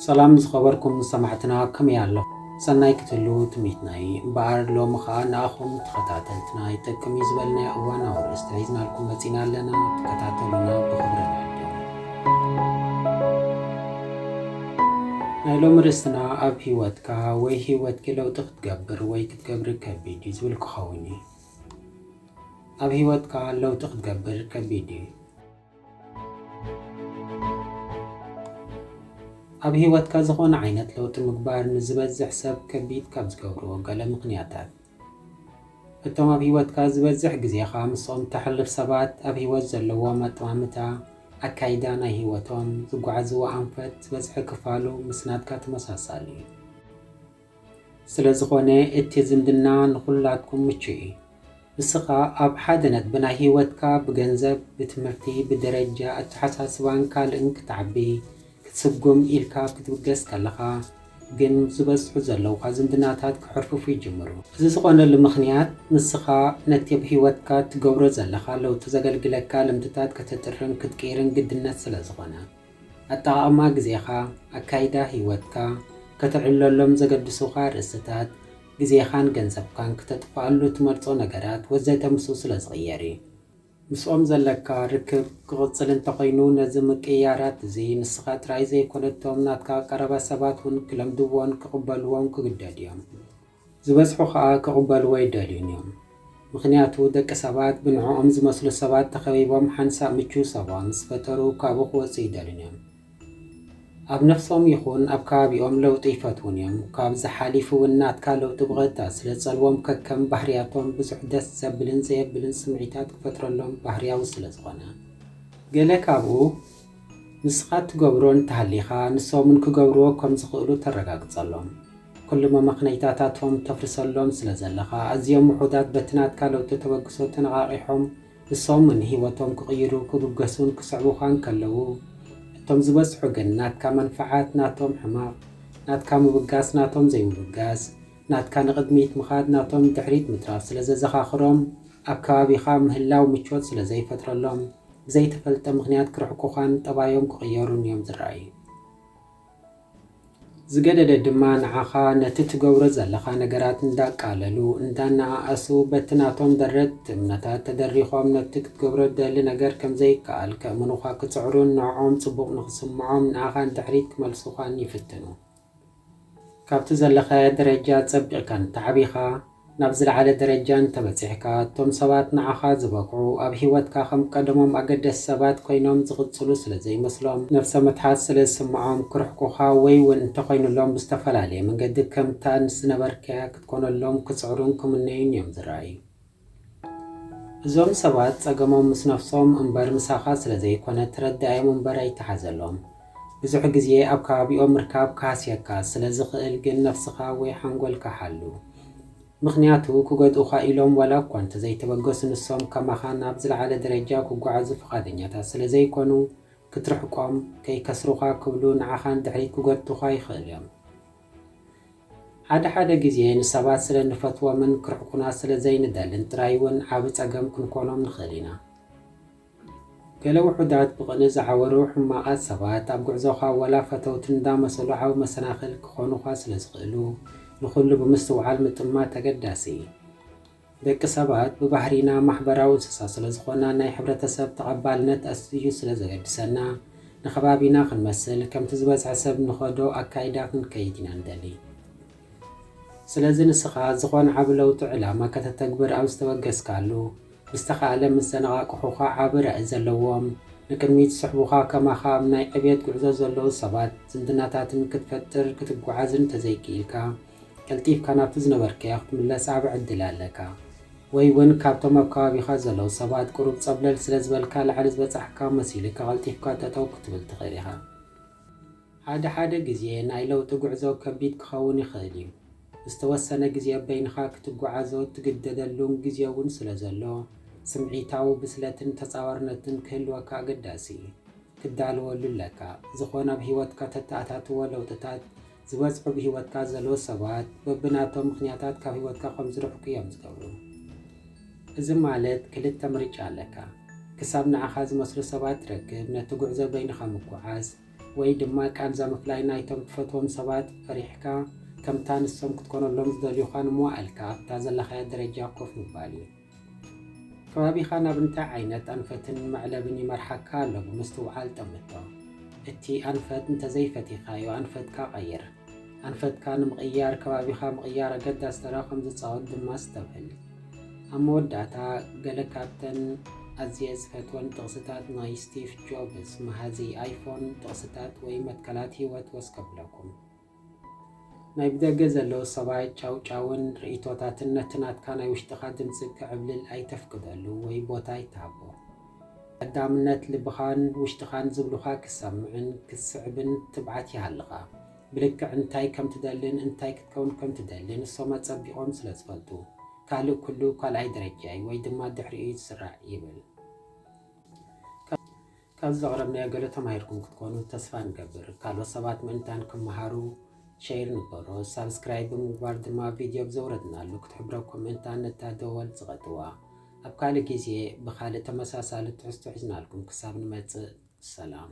ሰላም ዝኸበርኩም ሰማዕትና ከመይ ኣሎ ሰናይ ክትህልዉ ትምኒትና እዩ እምበኣር ሎሚ ከዓ ንኣኹም ተኸታተልትና ይጠቅም እዩ ዝበልናዮ እዋናዊ ርእስቲ ሒዝናልኩም መፂና ኣለና ተከታተሉና ብክብሪ ንዕድም ናይ ሎሚ ርእስትና ኣብ ሂወትካ ወይ ሂወትኪ ለውጢ ክትገብር ወይ ገብሪ ከቢድ እዩ ዝብል ክኸውን እዩ። ኣብ ህይወትካ ለውጢ ክትገብር ከቢድ እዩ። ኣብ ህይወትካ ዝኾነ ዓይነት ለውጢ ምግባር ንዝበዝሕ ሰብ ከቢድ ካብ ዝገብርዎ ገለ ምኽንያታት፣ እቶም ኣብ ህይወትካ ዝበዝሕ ግዜኻ ምስኦም እተሕልፍ ሰባት ኣብ ህይወት ዘለዎም ኣጠማምታ፣ ኣካይዳ ናይ ህይወቶም፣ ዝጓዓዝዎ ኣንፈት ዝበዝሐ ክፋሉ ምስ ናትካ ተመሳሳሊ እዩ። ስለዝኾነ እቲ ዝምድና ንኹላትኩም ምቹእ እዩ። ንስኻ ኣብ ሓደ ነጥቢ ናይ ህይወትካ ብገንዘብ፣ ብትምህርቲ፣ ብደረጃ ኣተሓሳስባን ካልእን ክትዓቢ፣ ክትስጉም ኢልካ ክትብገስ ከለኻ ግን ዝበዝሑ ዘለዉኻ ዝምድናታት ክሕርፍፉ ይጅምሩ። እዚ ዝኾነሉ ምኽንያት ንስኻ ነቲ ኣብ ህይወትካ እትገብሮ ዘለኻ ለውጢ ዘገልግለካ ልምድታት ከተጥርን ክትቅይርን ግድነት ስለዝኾነ። ኣጠቓቕማ ግዜኻ፣ ኣካይዳ ህይወትካ፣ ከተዕብለሎም ዘገድሱኻ ርእስታት፣ ግዜኻን ገንዘብካን ክተጥፍኣሉ እትመርጾ ነገራት ወዘተ ምስኡ ስለ ዝቕየር እዩ። ምስኦም ዘለካ ርክብ ክቕጽል እንተኾይኑ ነዚ ምቅይያራት እዚ ንስኻ ጥራይ ዘይኮነ እቶም ናትካ ቀረባ ሰባት እውን ክለምድዎን ክቕበልዎን ክግደዱ እዮም። ዝበዝሑ ከኣ ክቕበልዎ ኣይደልዩን እዮም። ምኽንያቱ ደቂ ሰባት ብንዕኦም ዝመስሉ ሰባት ተኸቢቦም ሓንሳእ ምቹው ሰባ ምስ ፈጠሩ ካብኡ ክወጹ ኣይደልዩን እዮም። ኣብ ነፍሶም ይኹን ኣብ ከባቢኦም ለውጢ ኣይፈትዉን እዮም። ካብዚ ሓሊፉ እውን ናትካ ለውጢ ብቐጥታ ስለ ትጸልዎም ከከም ባህርያቶም ብዙሕ ደስ ዘብልን ዘየብልን ስምዒታት ክፈጥረሎም ባህርያዊ ስለ ዝኾነ። ገለ ካብኡ ንስኻ እትገብሮ እንተሃሊኻ ንሶምን ክገብርዎ ከምዝኽእሉ ተረጋግጸሎም። ኩሉ መመኽነይታታቶም ተፍርሰሎም ስለዘለኻ ኣዝዮም ውሑዳት በቲ ናትካ ለውጢ ተበግሶ ተነቓቒሖም ንሶምን ህይወቶም ክቕይሩ ክብገሱን ክስዕቡኻን ከለዉ እቶም ዝበዝሑ ግን ናትካ መንፍዓት ናቶም ሕማቕ ናትካ ምብጋስ ናቶም ዘይምብጋስ ናትካ ንቕድሚት ምኻድ ናቶም ንድሕሪት ምትራፍ ስለዘዘኻኽሮም ኣብ ከባቢኻ ምህላው ምቾት ስለዘይፈጥረሎም ብዘይተፈልጠ ምኽንያት ክርሕቁኻን ጠባዮም ክቕየሩን እዮም ዝረኣዩ። ዝገደደ ድማ ንዓኻ ነቲ ትገብሮ ዘለኻ ነገራት እንዳቃለሉ፣ እንዳነኣኣሱ፣ በቲ ናቶም ደረት እምነታት ተደሪኾም ነቲ ክትገብሮ እትደሊ ነገር ከም ዘይከኣል ከእምኑኻ ክጽዕሩን ንዕኦም ጽቡቕ ንኽስምዖም ንኣኻ ንድሕሪት ክመልሱኻን ይፍትኑ። ካብቲ ዘለኻዮ ደረጃ ጸቢቕካ እንተዓቢኻ፣ ናብ ዝለዓለ ደረጃ እንተበጺሕካ፣ እቶም ሰባት ንዓኻ ዝበቕዑ ኣብ ህይወትካ ከም ቀደሞም ኣገደስቲ ሰባት ኮይኖም ዝቕጽሉ ስለ ዘይመስሎም፣ ነብሰ ምትሓት ስለ ዝስምዖም፣ ክርሕቁኻ ወይ'ውን እንተኾይኑሎም ብዝተፈላለየ መንገዲ ከምታ ንስ ዝነበርካያ ክትኮነሎም ክጽዕሩን ክምነዩን እዮም ዝረኣዩ። እዞም ሰባት ጸገሞም ምስ ነፍሶም እምበር ምሳኻ ስለ ዘይኮነ ተረዳኣዮም እምበር ኣይተሓዘሎም። ብዙሕ ግዜ ኣብ ከባቢኦም ምርካብ ክሃስየካ ስለ ዝኽእል ግን ነፍስኻ ወይ ሓንጎልካ ሓሉ። ምኽንያቱ ክጎድኡኻ ኢሎም ዋላ እኳ እንተ ዘይተበገሱ ንሶም ከማኻ ናብ ዝለዓለ ደረጃ ክጓዓዙ ፍቓደኛታት ስለ ዘይኮኑ ክትርሕቆም ከይከስሩኻ ክብሉ ንዓኻ ንድሕሪት ክጎትቱኻ ይኽእሉ እዮም። ሓደ ሓደ ግዜ ንሰባት ስለ እንፈትዎምን ክርሕቁና ስለ ዘይንደልን ጥራይ እውን ዓቢ ጸገም ክንኰኖም ንኽእል ኢና። ገለ ውሑዳት ብቕንኢ ዝዓወሩ ሕማቓት ሰባት ኣብ ጕዕዞኻ ዋላ ፈተውቲ እንዳ መሰሉ ዓቢ መሰናኽል ክዀኑኻ ስለ ዝኽእሉ ንዅሉ ብምስትውዓል ምጥማት ኣገዳሲ እዩ። ደቂ ሰባት ብባህሪና ማሕበራዊ እንስሳ ስለ ዝኾና ናይ ሕብረተሰብ ተቐባልነት ኣዝዩ ስለ ዘገድሰና ንከባቢና ክንመስል ከምቲ ዝበዝሐ ሰብ ንኸዶ ኣካይዳ ክንከይድ ኢና ንደሊ። ስለዚ ንስኻ ዝኾነ ዓቢ ለውጢ ዕላማ ከተተግብር ኣብ ዝተበገስካሉ ብዝተኻእለ ምስ ዘነቓቕሑኻ ዓቢ ራኢ ዘለዎም ንቅድሚት ዝስሕቡኻ ከማኻ ኣብ ናይ ዕብየት ጉዕዞ ዘለዉ ሰባት ዝምድናታትን ክትፈጥር ክትጓዓዝን እንተዘይክኢልካ ቀልጢፍካ ናብቲ ዝነበርካዮ ክትምለስ ዓቢ ዕድል ኣለካ። ወይ ውን ካብቶም ኣብ ከባቢኻ ዘለዉ ሰባት ቁሩብ ጸብለል ስለ ዝበልካ ላዕሊ ዝበጻሕካ መሲሉካ ቀልጢፍካ ጠጠው ክትብል ትኽእል ኢኻ። ሓደ ሓደ ግዜ ናይ ለውጢ ጉዕዞ ከቢድ ክኸውን ይኽእል እዩ። ዝተወሰነ ግዜ በይንኻ ክትጉዓዞ እትግደደሉን ግዜ ውን ስለ ዘሎ ስምዒታዊ ብስለትን ተጻዋርነትን ክህልወካ ኣገዳሲ እዩ። ክትዳለወሉ ኣለካ። ዝኾነ ኣብ ህይወትካ ተተኣታትዎ ለውጥታት ዝበጽሑ ብህይወትካ ዘለዉ ሰባት በብናቶም ምኽንያታት ካብ ህይወትካ ከም ዝርሕቁ እዮም ዝገብሩ። እዚ ማለት ክልተ ምርጫ ኣለካ፣ ክሳብ ንዓኻ ዝመስሉ ሰባት ትረክብ ነቲ ጉዕዞ በይንኻ ምጉዓዝ፣ ወይ ድማ ቃንዛ ምፍላይ ናይቶም ትፈትዎም ሰባት ፈሪሕካ ከምታ ንሶም ክትኮነሎም ዝደልዩኻ ንምዋኣልካ ኣብታ ዘለኻያ ደረጃ ኮፍ ምባል እዩ። ከባቢኻ ናብ እንታይ ዓይነት ኣንፈትን መዕለብን ይመርሓካ ኣሎ ብምስትውዓል ጠምቶ። እቲ ኣንፈት እንተዘይፈቲኻዮ ኣንፈትካ ቀይር። ኣንፈትካ ንምቕያር ከባቢኻ ምቕያር ኣገዳሲ ተራ ከም ዝጻወት ድማ ኣስተብህል። ኣብ መወዳእታ፣ ገለ ካብተን ኣዝየ ዝፈትወን ጥቕስታት ናይ ስቲቭ ጆብስ፣ መሃዚ ኣይፎን፣ ጥቕስታት ወይ መትከላት ህይወት ወስ ከብለኩም። ናይ ብደገ ዘለዉ ሰባት ጫውጫውን ርእይቶታትን ነቲ ናትካ ናይ ውሽጥኻ ድምጺ ክዕብልል ኣይተፍቅደሉ ወይ ቦታ ኣይትሃቦ። ቀዳምነት ልብኻን ውሽጥኻን ዝብሉኻ ክትሰምዕን ክትስዕብን ትብዓት ይሃልኻ። ብልክዕ እንታይ ከም ትደልን እንታይ ክትከውን ከም ትደልን ንሶም ኣጸቢቖም ስለ ዝፈልጡ። ካልእ ኩሉ ካልኣይ ደረጃ'ዩ ወይ ድማ ድሕሪኡ'ዩ ዝስራዕ ይብል። ካብዚ ዘቕረብናዮ ገለ ተማሂርኩም ክትኮኑ ተስፋ ንገብር። ካልኦት ሰባት ምእንታን ክመሃሩ ሸይር ንበሮ። ሳብስክራይብ ብምግባር ድማ ቪድዮ ብ ዘውረድናሉ ክትሕብረኩም ምእንታን ነታ ደወል ጽቐጥዋ። ኣብ ካልእ ግዜ ብኻልእ ተመሳሳሊ ትሕዝቶ ሒዝናልኩም ክሳብ ንመጽእ ሰላም።